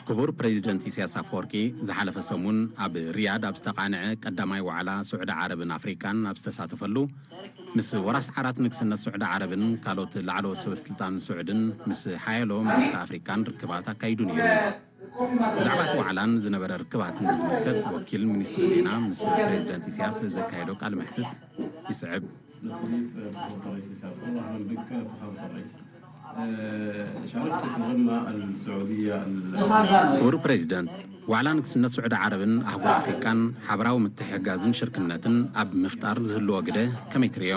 ክቡር ፕረዚደንት ኢሳያስ ኣፈወርቂ ዝሓለፈ ሰሙን ኣብ ሪያድ ኣብ ዝተቓንዐ ቀዳማይ ዋዕላ ሱዕዲ ዓረብን ኣፍሪቃን ኣብ ዝተሳተፈሉ ምስ ወራስ ዓራት ንግስነት ሱዕዲ ዓረብን ካልኦት ላዕለዎት ሰበስልጣን ሱዕድን ምስ ሓያሎ መራሕቲ ኣፍሪቃን ርክባት ኣካይዱ ነይሩ። ብዛዕባ እቲ ዋዕላን ዝነበረ ርክባትን ብዝምልከት ወኪል ሚኒስትሪ ዜና ምስ ፕሬዚደንት ኢሳያስ ዘካየዶ ቃለ መሕትት ይስዕብ። ክቡር ፕሬዚደንት፣ ዋዕላ ንግስነት ስዑዲ ዓረብን ኣህጉር ኣፍሪቃን ሓበራዊ ምትሕግጋዝን ሽርክነትን ኣብ ምፍጣር ዝህልዎ ግደ ከመይ ትርእዮ?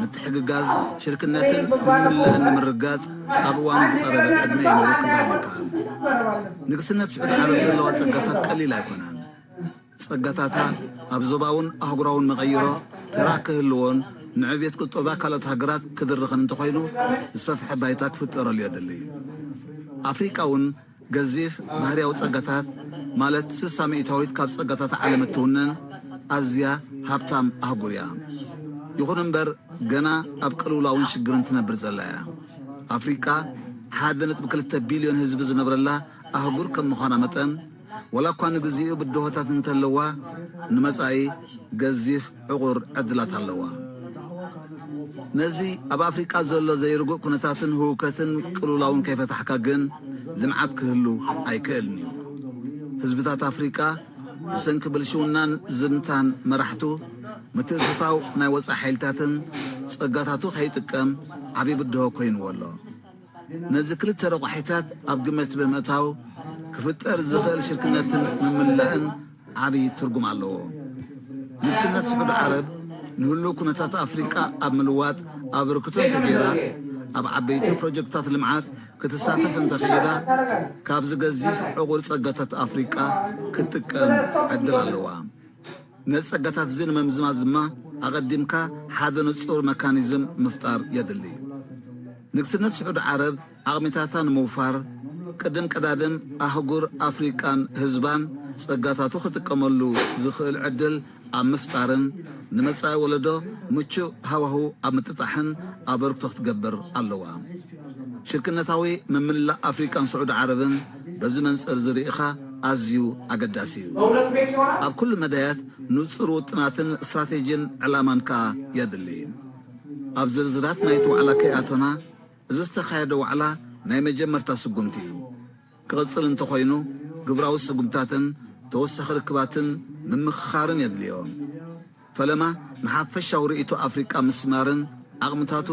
ምትሕግጋዝ፣ ሽርክነትን ምምልላእን ንምርግጋጽ ኣብ እዋኑ ዝቐረበ ዕድመ እዩ ነይሩ ክበሃል ይከኣል። ንግስነት ስዑድ ዓረብ ዘለዋ ጸጋታት ቀሊል ኣይኮናን። ጸጋታታ ኣብ ዞባውን ኣህጉራውን መቐይሮ ተራ ክህልዎን ንዕብየት ቁጠባ ካልኦት ሃገራት ክድርኽን እንተኾይኑ ዝሰፍሐ ባይታ ክፍጠረሉ የድሊ። ኣፍሪቃ'ውን ገዚፍ ባህርያዊ ጸጋታት፣ ማለት ስሳ ሚእታዊት ካብ ጸጋታት ዓለም እትውንን ኣዝያ ሃብታም ኣህጉር እያ። ይኹን እምበር ገና ኣብ ቅልውላውን ሽግርን ትነብር ዘላ እያ። ኣፍሪቃ ሓደ ነጥቢ ክልተ ቢልዮን ህዝቢ ዝነብረላ ኣህጉር ከም ምዃና መጠን፣ ዋላኳ ንግዚኡ ብድሆታት እንተለዋ ንመጻኢ ገዚፍ ዕቑር ዕድላት ኣለዋ። ነዚ ኣብ ኣፍሪቃ ዘሎ ዘይርጉእ ኩነታትን ህውከትን ቅልውላውን ከይፈታሕካ ግን ልምዓት ክህሉ ኣይክእልን'ዩ። ህዝብታት ኣፍሪቃ ብሰንኪ ብልሽውናን ዝምታን መራሕቱ፣ ምትእትታው ናይ ወጻኢ ሓይልታትን ጸጋታቱ ከይጥቀም ዓቢ ብድሆ ኮይንዎ ኣሎ። ነዚ ክልተ ረቋሒታት ኣብ ግምት ብምእታው ክፍጠር ዝኽእል ሽርክነትን ምምላእን ዓቢ ትርጉም ኣለዎ። ንግስነት ስዑዲ ዓረብ ንህሉው ኩነታት ኣፍሪቃ ኣብ ምልዋጥ ኣበርክቶ እንተገይራ፣ ኣብ ዓበይቲ ፕሮጀክትታት ልምዓት ክትሳተፍ እንተኽኢላ፣ ካብዚ ገዚፍ ዕቑር ጸጋታት ኣፍሪቃ ክትጥቀም ዕድል ኣለዋ። ነዚ ጸጋታት እዚ ንምምዝማዝ ድማ ኣቐዲምካ ሓደ ንጹር መካኒዝም ምፍጣር የድሊ እዩ። ንግስነት ስዑዲ ዓረብ ዓቕሚታታ ንምውፋር፣ ቅድም ቀዳድም ኣህጉር ኣፍሪቃን ህዝባን ጸጋታቱ ክጥቀመሉ ዝኽእል ዕድል ኣብ ምፍጣርን ንመጻኢ ወለዶ ምቹእ ሃዋሁ ኣብ ምጥጣሕን ኣበርክቶ ክትገብር ኣለዋ። ሽርክነታዊ ምምልላእ ኣፍሪቃን ስዑዲ ዓረብን፣ በዚ መንጽር'ዚ ርኢኻ ኣዝዩ ኣገዳሲ እዩ። ኣብ ኩሉ መዳያት ንጹር ውጥናትን ስትራቴጂን ዕላማን ከኣ የድሊ። ኣብ ዝርዝራት ናይ'ቲ ዋዕላ ከይኣቶና፣ እዚ ዝተኻየደ ዋዕላ ናይ መጀመርታ ስጉምቲ እዩ። ክቕጽል እንተኾይኑ ግብራዊ ስጉምታትን ተወሳኺ ርክባትን ምምኽኻርን የድልዮ። ፈለማ ንሓፈሻዊ ርእይቶ ኣፍሪቃ ምስማርን ዓቕምታቱ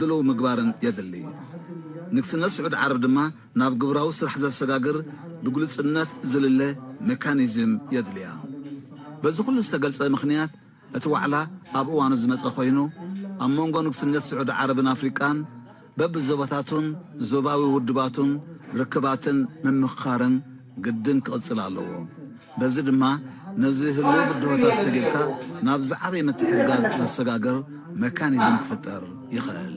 ድሉው ምግባርን የድሊ። ንግስነት ስዑድ ዓረብ ድማ ናብ ግብራዊ ስራሕ ዘሰጋግር ብግሉጽነት ዝልለ ሜካኒዝም የድልያ። በዚ ኩሉ ዝተገልጸ ምኽንያት እቲ ዋዕላ ኣብ እዋኑ ዝመጸ ኮይኑ፣ ኣብ መንጎ ንግስነት ስዑድ ዓረብን ኣፍሪቃን፣ በብዞባታቱን ዞባዊ ውድባቱን ርክባትን ምምኽኻርን ግድን ክቕጽል ኣለዎ። በዚ ድማ ነዚ ህልዊ ብድሆታት ሰጊርካ ናብ ዝዓበየ ምትሕግጋዝ ዘሰጋግር መካኒዝም ክፍጠር ይኸእል።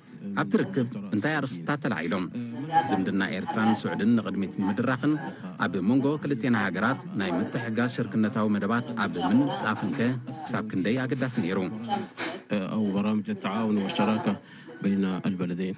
ኣብቲ ርክብ እንታይ ኣርእስትታት ተላዒሎም? ዝምድና ኤርትራን ስዑድን ንቕድሚት ንምድራኽን ኣብ መንጎ ክልቴና ሃገራት ናይ ምትሕግጋዝ ሽርክነታዊ መደባት ኣብ ምንጻፍንከ ክሳብ ክንደይ ኣገዳሲ ነይሩ? ኣው በራምጅ ኣተዓውን ወሸራከ በይነ ኣልበለደይን።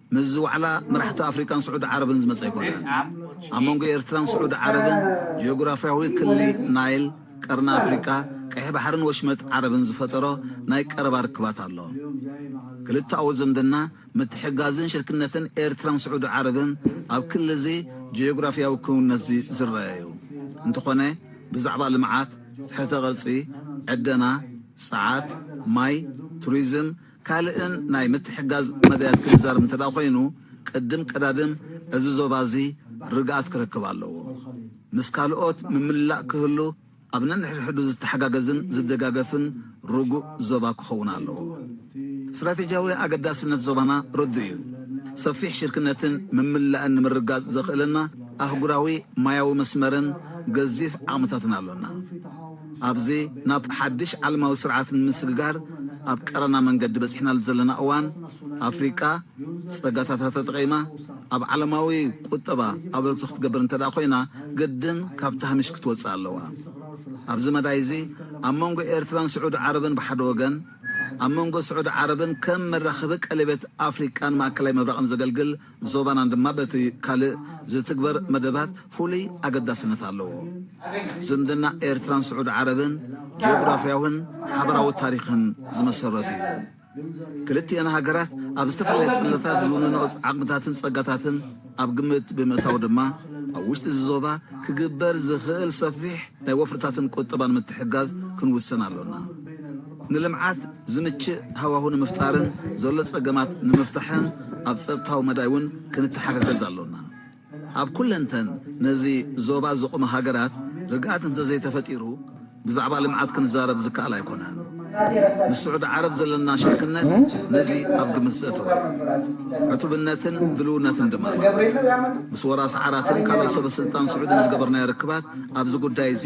ምስዚ ዋዕላ መራሕቲ ኣፍሪቃን ስዑዲ ዓረብን ዝመጸ ኣይኮነን። ኣብ መንጎ ኤርትራን ስዑዲ ዓረብን ጂኦግራፍያዊ ክሊ ናይል፣ ቀርኒ ኣፍሪቃ፣ ቀይሕ ባሕርን ወሽመጥ ዓረብን ዝፈጠሮ ናይ ቀረባ ርክባት ኣሎ። ክልተኣዊ ዝምድና፣ ምትሕግጋዝን ሽርክነትን ኤርትራን ስዑዲ ዓረብን ኣብ ክሊዚ ጂኦግራፍያዊ ክውንነትዚ ዝረኣ'ዩ። እንተኾነ ብዛዕባ ልምዓት፣ ትሕተ ቅርጺ፣ ዕደና፣ ጸዓት፣ ማይ፣ ቱሪዝም፣ ካልእን ናይ ምትሕጋዝ መዳያት ክንዛረብ እንተድኣ ኮይኑ፣ ቅድም ቀዳድም እዚ ዞባ እዚ ርግኣት ክረክብ ኣለዎ። ምስ ካልኦት ምምላእ ክህሉ ኣብ ነንሕድሕዱ ዝተሓጋገዝን ዝደጋገፍን ርጉእ ዞባ ክኸውን ኣለዎ። ስትራቴጂያዊ ኣገዳስነት ዞባና ርዱእ እዩ። ሰፊሕ ሽርክነትን ምምላእን ንምርግጋጽ ዘኽእለና ኣህጉራዊ ማያዊ መስመርን ገዚፍ ዓቕምታትን ኣሎና። ኣብዚ ናብ ሓድሽ ዓለማዊ ስርዓት ንምስግጋር ኣብ ቀረና መንገዲ በጺሕናሉ ዘለና እዋን፣ ኣፍሪቃ ጸጋታታ ተጠቒማ ኣብ ዓለማዊ ቁጠባ ኣበርክቶ ክትገብር እንተድኣ ኮይና ግድን ካብቲ ሃሚሽ ክትወጽእ ኣለዋ። ኣብዚ መዳይዚ ኣብ መንጎ ኤርትራን ስዑዲ ዓረብን ብሓደ ወገን፣ ኣብ መንጎ ስዑዲ ዓረብን ከም መራኸቢ ቀሌበት ኣፍሪቃን ማእከላይ ምብራቕን ዘገልግል ዞባናን ድማ በቲ ካልእ ዝትግበር መደባት ፍሉይ ኣገዳስነት ኣለዎ። ዝምድና ኤርትራን ስዑዲ ዓረብን ጂኦግራፍያውን ሓበራዊ ታሪኽን ዝመሰረቱ እዩ። ክልቲኤን ሃገራት ኣብ ዝተፈላለየ ጽላታት ዝውንንኦ ዓቕምታትን ጸጋታትን ኣብ ግምት ብምእታው ድማ ኣብ ውሽጢ እዚ ዞባ ክግበር ዝኽእል ሰፊሕ ናይ ወፍርታትን ቁጠባን ምትሕግጋዝ ክንውስን ኣሎና። ንልምዓት ዝምችእ ሃዋሁ ንምፍጣርን ዘሎ ፀገማት ንምፍታሕን ኣብ ፀጥታዊ መዳይ እውን ክንተሓጋገዝ ኣሎና። ኣብ ኩለንተን ነዚ ዞባ ዝቑማ ሃገራት ርግኣት እንተዘይተፈጢሩ ብዛዕባ ልምዓት ክንዛረብ ዝከኣል ኣይኮነን። ምስ ስዑዲ ዓረብ ዘለና ሽርክነት ነዚ ኣብ ግምት ዘእተወ እዩ። ዕቱብነትን ድልውነትን ድማ ኣሎ። ምስ ወራሲ ዓራትን ካልኦት ሰበስልጣን ስዑድን ዝገበርናዮ ርክባት ኣብዚ ጉዳይ እዚ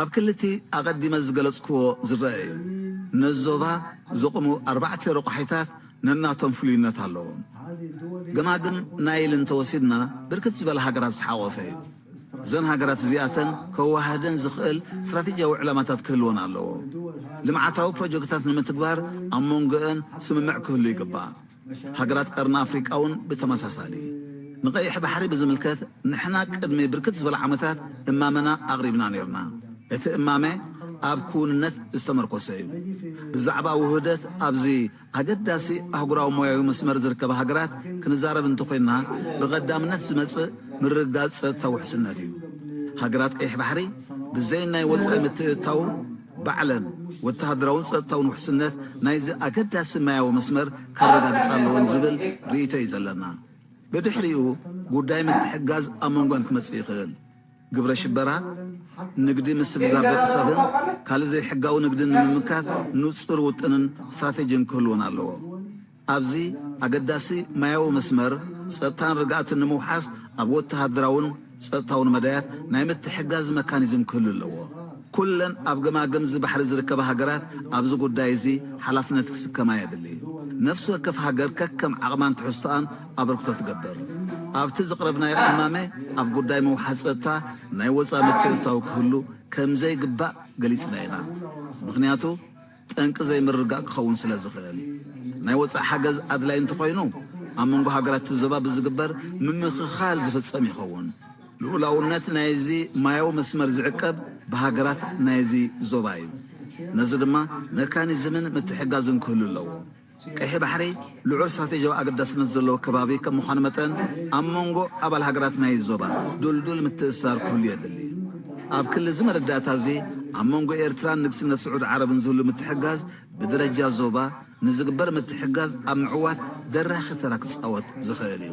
ኣብ ክሊ እቲ ኣቐዲመ ዝገለጽኩዎ ዝረኣ እዩ። ነዚ ዞባ ዘቑሙ ኣርባዕተ ረቋሒታት ነናቶም ፍሉይነት ኣለዎም። ገማግም ናይል እንተወሲድና ብርክት ዝበላ ሃገራት ዝሓቖፈ እዩ። እዘን ሃገራት እዚኣተን ከወሃህደን ዝኽእል ስትራቴጂያዊ ዕላማታት ክህልወን ኣለዎ። ልምዓታዊ ፕሮጀክትታት ንምትግባር ኣብ መንጎኤን ስምምዕ ክህሉ ይግባእ። ሃገራት ቀርኒ ኣፍሪቃ'ውን ብተመሳሳሊ። ንቀይሕ ባሕሪ ብዝምልከት ንሕና ቅድሚ ብርክት ዝበለ ዓመታት እማመና ኣቕሪብና ኔርና። እቲ እማመ ኣብ ክውንነት ዝተመርኮሰ'ዩ። ብዛዕባ ውህደት ኣብዚ ኣገዳሲ ኣህጉራዊ ሞያዊ መስመር ዝርከባ ሃገራት ክንዛረብ እንተኾይንና ብቐዳምነት ዝመጽእ ምርግጋጽ ጸጥታዊ ውሕስነት'ዩ። ሃገራት ቀይሕ ባሕሪ ብዘይ ናይ ወጻኢ ምትእትታው፣ ባዕለን ወተሃደራውን ጸጥታውን ውሕስነት ናይዚ ኣገዳሲ ማያዊ መስመር ከረጋግጻ ኣለወን ዝብል ርእይቶ እዩ ዘለና። ብድሕሪኡ ጉዳይ ምትሕግጋዝ ኣብ መንጎኣን ክመጽእ ይኽእል። ግብረ ሽበራ፣ ንግዲ ምስግጋር ደቂ ሰብን ካልእ ዘይሕጋዊ ንግድን ንምምካት ንጹር ውጥንን ስትራቴጂን ክህልወን ኣለዎ። ኣብዚ ኣገዳሲ ማያዊ መስመር፣ ጸጥታን ርግኣትን ንምውሓስ ኣብ ወተሃደራውን ጸጥታውን መዳያት ናይ ምትሕግጋዝ መካኒዝም ክህሉ ኣለዎ። ኩለን ኣብ ገማግም'ዚ ባሕሪ ዝርከባ ሃገራት ኣብዚ ጉዳይ'ዚ ሓላፍነት ክስከማ የድሊ። ነፍሲ ወከፍ ሃገር ከከም ዓቕማን ትሕዝቶኣን ኣበርክቶ ትገብር። ኣብቲ ዘቕረብናዮ እማመ ኣብ ጉዳይ ምውሓስ ጸጥታ ናይ ወጻኢ ምትእትታው ክህሉ ከምዘይግባእ ገሊጽና ኢና። ምኽንያቱ። ጠንቂ ዘይምርግጋእ ክኸውን ስለ ዝኽእል፣ ናይ ወጻኢ ሓገዝ ኣድላዪ እንተኾይኑ ኣብ መንጎ ሃገራት እቲ ዞባ ብዝግበር ምምኽኻር ዝፍጸም ይኸውን። ልኡላውነት ናይዚ ማያዊ መስመር ዝዕቀብ ብሃገራት ናይዚ ዞባ እዩ። ነዚ ድማ መካኒዝምን ምትሕግጋዝን ክህሉ ኣለዎ። ቀይሕ ባሕሪ ልዑል ስትራቴጂያዊ ኣገዳስነት ዘለዎ ከባቢ ከም ምዃኑ መጠን፣ ኣብ መንጎ ኣባል ሃገራት ናይዚ ዞባ ድልዱል ምትእስሳር ክህሉ የድሊ። ኣብ ክሊ እዚ መረዳእታ እዚ፣ ኣብ መንጎ ኤርትራን ንግስነት ስዑድ ዓረብን ዝህሉ ምትሕግጋዝ ብደረጃ ዞባ ንዝግበር ምትሕግጋዝ ኣብ ምዕዋት ደራኺ ተራ ክጻወት ዝኽእል እዩ።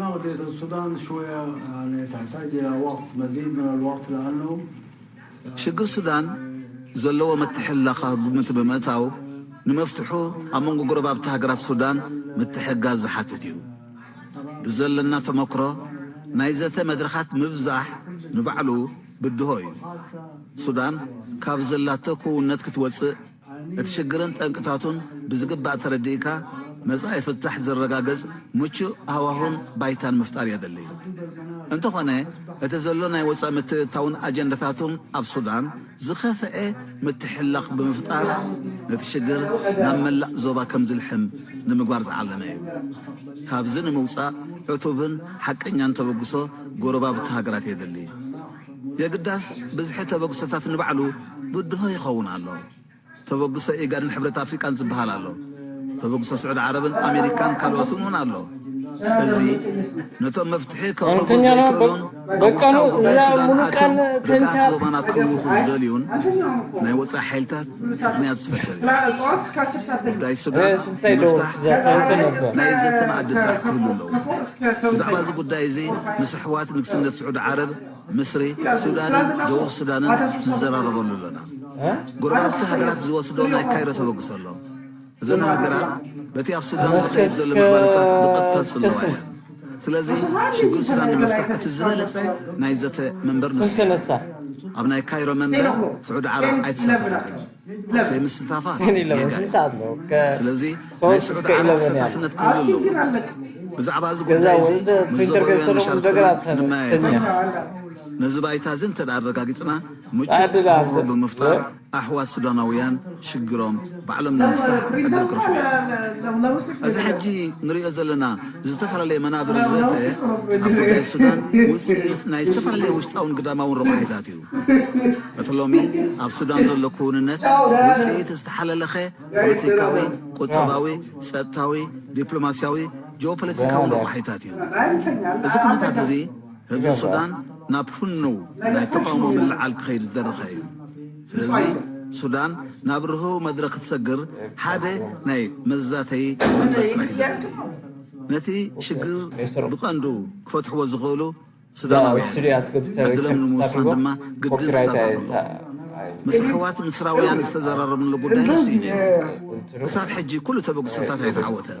ናቅዴት ኣልሱዳን ሽወያ ያኒ ታሕታጅ ኢላ ወቅት መዚድ ምን ኣልወቅት ለኣነው። ሽግር ሱዳን ዘለዎ ምትሕልላኽ ኣብ ግምት ብምእታው ንመፍትሑ ኣብ መንጎ ጎረባብቲ ሃገራት ሱዳን ምትሕግጋዝ ዝሓትት እዩ። ብዘለና ተመክሮ ናይ ዘተ መድረኻት ምብዛሕ ንባዕሉ ብድሆ እዩ። ሱዳን ካብ ዘላቶ ክውንነት ክትወጽእ፣ እቲ ሽግርን ጠንቅታቱን ብዝግባእ ተረዲእካ መጻኢ ፍታሕ ዝረጋገጽ ምቹእ ሃዋሁን ባይታን ምፍጣር የድሊ'ዩ። እንተኾነ እቲ ዘሎ ናይ ወጻኢ ምትእትታውን ኣጀንዳታቱን ኣብ ሱዳን ዝኸፈኤ ምትሕልላኽ ብምፍጣር ነቲ ሽግር ናብ መላእ ዞባ ከምዝልሕም ንምግባር ዝዓለመ'ዩ። ካብዚ ንምውጻእ ዕቱብን ሓቀኛን ተበግሶ ጎረባብቲ ሃገራት የድሊ። የግዳስ ብዝሒ ተበግሶታት ንባዕሉ ብድሆ ይኸውን ኣሎ። ተበግሶ ኢጋድን ሕብረት ኣፍሪቃን ዝበሃል ኣሎ። ተበግሶ ስዑዲ ዓረብን ኣሜሪካን ካልኦትን እውን ኣሎ። እዚ ነቶም መፍትሒ ከቕርቡ ዘይክእሉን ኣብ ውሽጣዊ ጉዳይ ሱዳን ኣትዮም ርግኣት ዞባና ከውኹ ዝደልዩን ናይ ወጻኢ ሓይልታት ምኽንያት ዝፈጥር እዩ። ጉዳይ ሱዳን ንምፍታሕ መፍትሒ ናይ ዘተ መኣድታት ክህሉ ኣለዎ። ብዛዕባ እዚ ጉዳይ እዚ ምስ ኣሕዋት ንግስነት ስዑዲ ዓረብ፣ ምስሪ፣ ሱዳንን ደቡብ ሱዳንን ንዘራረበሉ ኣሎና። ጎረባብቲ ሃገራት ዝወስዶ ናይ ካይሮ ተበግሶ ኣሎ። እዘን ሃገራት በቲ ኣብ ሱዳን ዝኸይድ ዘሎ ምዕባለታት ብቐጥታ ዝጽልዋ እየን። ስለዚ ሽግር ሱዳን ንምፍታሕ እቲ ዝበለጸ ናይ ዘተ መንበር ንሱ እዩ። ኣብ ናይ ካይሮ መንበር ስዑዲ ዓረብ ኣይተሳተፈትን። ዘይምስታፋ ጌጋ እዩ። ስለዚ ናይ ስዑዲ ዓረብ ተሳታፍነት ክህሉ ኣለዎ። ብዛዕባ እዚ ጉዳይ እዚ ምስ ዞባውያን መሻርኽትና ክንመያየጥ ኣለና። ነዚ ባይታ እዚ እንተድኣ ኣረጋጊጽና ምቹእ ሃዋህው ብምፍጣር፣ ኣሕዋት ሱዳናውያን ሽግሮም ባዕሎም ንምፍታሕ ዕድል ክረኽቡ እዮም። እዚ ሕጂ ንርእዮ ዘለና ዝተፈላለየ መናብር ዘተ ኣብ ጉዳይ ሱዳን ውጽኢት ናይ ዝተፈላለየ ውሽጣውን ግዳማውን ረቋሒታት እዩ። እቲ ሎሚ ኣብ ሱዳን ዘሎ ክውንነት ውጽኢት ዝተሓለለኸ ፖለቲካዊ፣ ቁጠባዊ፣ ጸጥታዊ፣ ዲፕሎማስያዊ፣ ጂኦፖለቲካውን ረቋሒታት እዩ። እዚ ኩነታት እዚ፣ ህዝቢ ሱዳን ናብ ህኑው ናይ ተቓውሞ ምልዕዓል ክኸይድ ዝደረኸ እዩ። ስለዚ ሱዳን ናብ ርህው መድረኽ ክትሰግር ሓደ ናይ መዛተዪ መንበር ጥራሕ እዩ ዘድሊ። ነቲ ሽግር ብቐንዱ ክፈትሕዎ ዝኽእሉ ሱዳናውያን እዮም። ዕድሎም ንምውሳን ድማ ግድን ክሳተፉ ኣለዎም። ምስ ኣሕዋት ምስራውያን ዝተዘራረብንሉ ጉዳይ ንሱ እዩ ነይሩ። ክሳብ ሕጂ ኩሉ ተበግሶታት ኣይተዓወተን።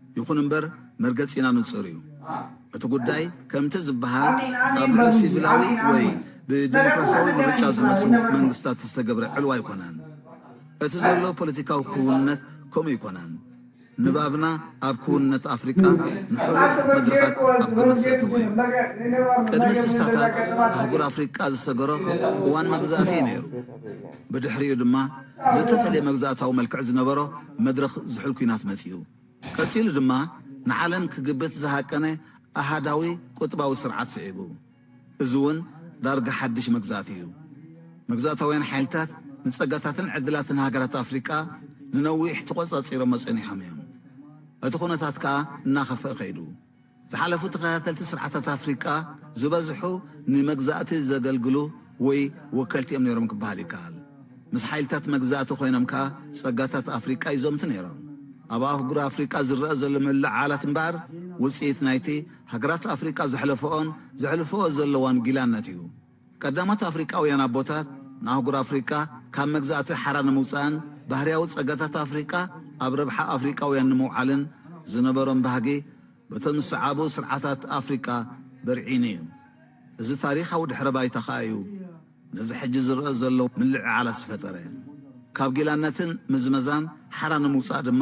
ይኹን እምበር መርገጺና ንጹር እዩ። እቲ ጉዳይ ከምቲ ዝበሃል ኣብ ልዕሊ ሲቪላዊ ወይ ብዲሞክራሲያዊ ምርጫ ዝመጹ መንግስታት ዝተገብረ ዕልዋ ኣይኮነን። እቲ ዘሎ ፖለቲካዊ ክውንነት ከምኡ ኣይኮነን። ንባብና ኣብ ክውንነት ኣፍሪቃ ንሕሉፍ መድረኻት ኣብ ግምት ዘእተወ እዩ። ቅድሚ ስሳታት ኣህጉር ኣፍሪቃ ዝሰገሮ እዋን መግዛእቲ እዩ ነይሩ። ብድሕሪኡ ድማ ዝተፈልየ መግዛእታዊ መልክዕ ዝነበሮ መድረኽ ዝሑል ኲናት መጺኡ። ቀጺሉ ድማ ንዓለም ክግብት ዝሃቀነ ኣሃዳዊ ቁጥባዊ ስርዓት ስዒቡ። እዚ'ውን ዳርጋ ሓድሽ መግዛእቲ እዩ። መግዛእታውያን ሓይልታት ንጸጋታትን ዕድላትን ሃገራት ኣፍሪቃ ንነዊሕ ተቖጻጺሮሞ ጸኒሖም እዮም። እቲ ኩነታት ከኣ እናኸፍኣ ከይዱ። ዝሓለፉ ተኸታተልቲ ስርዓታት ኣፍሪቃ ዝበዝሑ ንመግዛእቲ ዘገልግሉ ወይ ወከልቲ እዮም ነይሮም ክበሃል ይከኣል። ምስ ሓይልታት መግዛእቲ ኮይኖም ከኣ ጸጋታት ኣፍሪቃ ይዘምቱ ነይሮም። ኣብ ኣህጉር ኣፍሪቃ ዝረኣ ዘሎ ምልዕዓላት እምበኣር ውጽኢት ናይቲ ሃገራት ኣፍሪቃ ዘሕለፈኦን ዘሕልፈኦ ዘለዋን ጊላነት እዩ። ቀዳሞት ኣፍሪቃውያን ኣቦታት ንኣህጉር ኣፍሪቃ ካብ መግዛእቲ ሓራ ንምውጻእን ባህርያዊ ጸጋታት ኣፍሪቃ ኣብ ረብሓ ኣፍሪቃውያን ንምውዓልን ዝነበሮም ባህጊ በቶም ዝሰዓቡ ስርዓታት ኣፍሪቃ በርዒኑ እዩ። እዚ ታሪኻዊ ድሕረ ባይታ ከኣ እዩ ነዚ ሕጂ ዝረኣ ዘሎ ምልዕዓላት ዝፈጠረ። ካብ ጊላነትን ምዝመዛን ሓራ ንምውጻእ ድማ